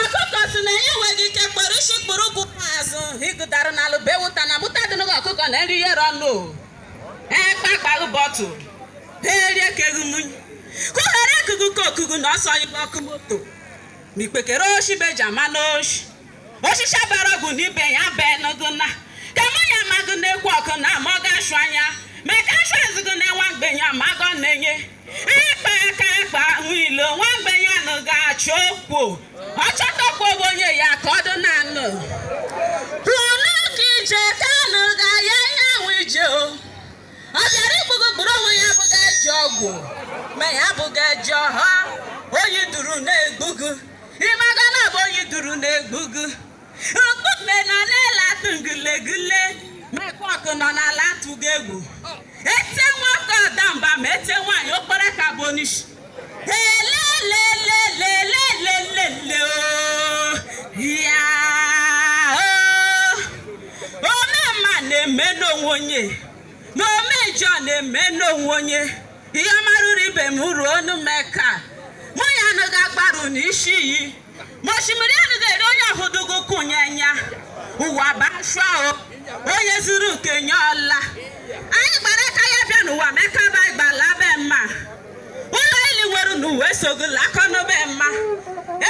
ọkụkọ si na ya enweghị ike kpọrọ isi kpụrụ ụkwụ azụ higụdara na alụbewụta na mụta dị n'ụlọ ọkụkọ na nri yere ọnụ ekpakpaghị bọtụ ha erie keghị mmiri kụghara ekugu ka okugu na ọsọ ibe ọkụ moto na ikpekere oshi beja mana oshi oshishi a bara ọgwụ na ibe ya bee n'ogo na ka mụ ya amaghị na-ekwu ọkụ na amaghị ashụ anya mee ka ashụ azụgo na nwa mgbenye amaghị ọ na-enye ịkpa aka ịkpa ahụ ilo nwa mgbenye anaghị achọ okwu ọ chọtakwa onwe onye ya ka ọ dị na anụ Pụnụ ka ije ka anụ ga ya ihe ahụ ije o. Ọ bịara igbu gị gburu onwe ya abụghị eji ọgwụ ma ya abụghị eji ọha ọyị duru na-egbu gị ị maghị na ọ bụ ọyị duru na-egbu gị nọ n'ala atụghị egwu e tie nwoke ọ daa mba ma e tie nwaanyị ọ kpara aka abụọ n'isi elelelelelelelele ya ome mma na-eme n'onwe onye na ome njọ na-eme n'onwe onye ihe marụrụ ibe m ruo ọnụ maka mmiri anaghị agbarụ n'isi iyi ma osimiri anaghị eri onye ọ hụdụghị ụkwụ ya anya ụwa bụ ashịa o onye zụrụ nke ya ọ laa anyị gbara aka ya bịa n'ụwa mekaba gbala be mma ụlọ ile i nwere n'ụwa esoghị alakọ na be mma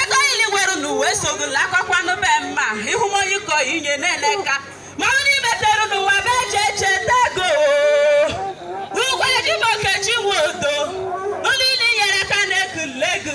ego ile i nwere n'ụwa esoghị alakọkwa na be mma ịhụmonyiko inye na-ele ka ma ọ n'imetere n'ụwa be eche eche tego Igwe Jim Okechi Nwodo ụlọ ile i nyere aka na-ekele gị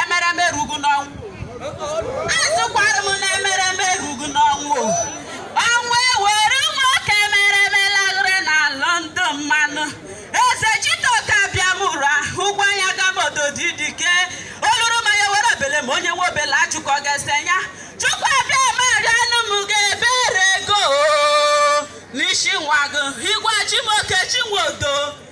emereme erughị n'ọnwụ asịkwara m na emereme erughị n'ọnwụ ọnwụ ewere nwoke emereme lagharị na lọndụ mmanụ eze chitoka bịa mụrụ ahụ gwa ya gabodo dị dike ọ ṅụrụ mmanya were obele ma onye nwe obele achụkọ ga-ese ya Chukwu Abịama rịa anụ m ga-ebere gị n'isi nwa gị Igwe Jim Okechi Nwodo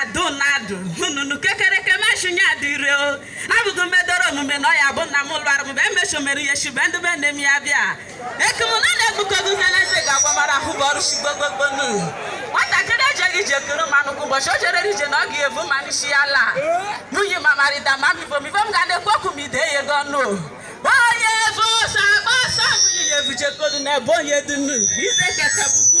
adụnadụ hununu kekereke meshinye adịre o abụghị medoro omume na ọya bụ nna m lụrụ mgbe emeso mere ihe shi be ndị be nne m ya bịa ekemụna na-egbukọgo ihe na eze ga-agbamara ahụ bụ ọrụ shigbogogbonu nwatakịrị ejeghị ije kere mmanụ kwa ụbọchị o jere ije na ọ ga-ebu mmanụ isi ya laa nwunye ma marịda ma mibom ibom ga na-ekwu okwu ma ide ya ego ọnụ onye bụ ọsọ akpa ọsọ nwunye ya ebujekodu na ebe onye dunu ize keta bụ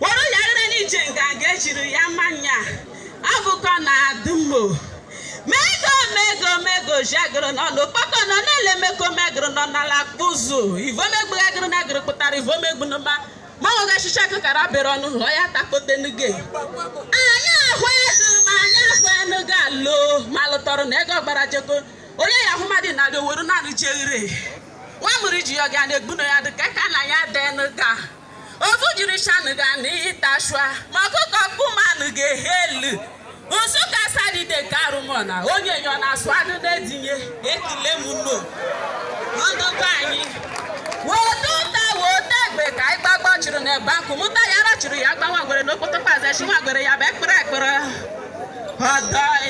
were ya ire n'ije nganga ejiri ya mmanya abụkọ na adụmmo mego mego mego jagoro nọ n'okpoko nọ n'ele meko megoro nọ n'ala kpụzụ ivomegbu gagoro na goro pụtara ivomegbu n'ụba ma ọ ga chicha kụkara bere ọnụ hụọ ya takotenuge anyị ahụ ego ma anyị ahụ enugo alo ma lụtọrọ na ego gbara jeko onye ya ahụ mmadụ na-adị owere na-arụjeghere nwa mụrụ ji ya ga na-egbu na ya dị ka ka na ya dị enuga ofu jiri shanụ ga na ịtashua ma ọkụkọ mkpụmanụ ga-ehe elu Nsụka sadide nke arụmọna onye nyọ na asụ anụ na-edinye ekele m nno ndị be anyị weta ụta weta egbe ka anyị gbagbuo chụrụ na ebe akụ mụta ya ara chụrụ ya gba nwa ngwere n'okpoto paze ishi nwa ngwere ya bụ ekpere ekpere ọdọị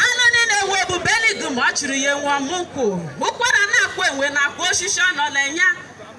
anụ niile nwe ebube eligum ọ chụrụ ya enwe ọmụkwụ ụkwara na-akwa enwe na-akwa osisi ọ nọ n'enu ya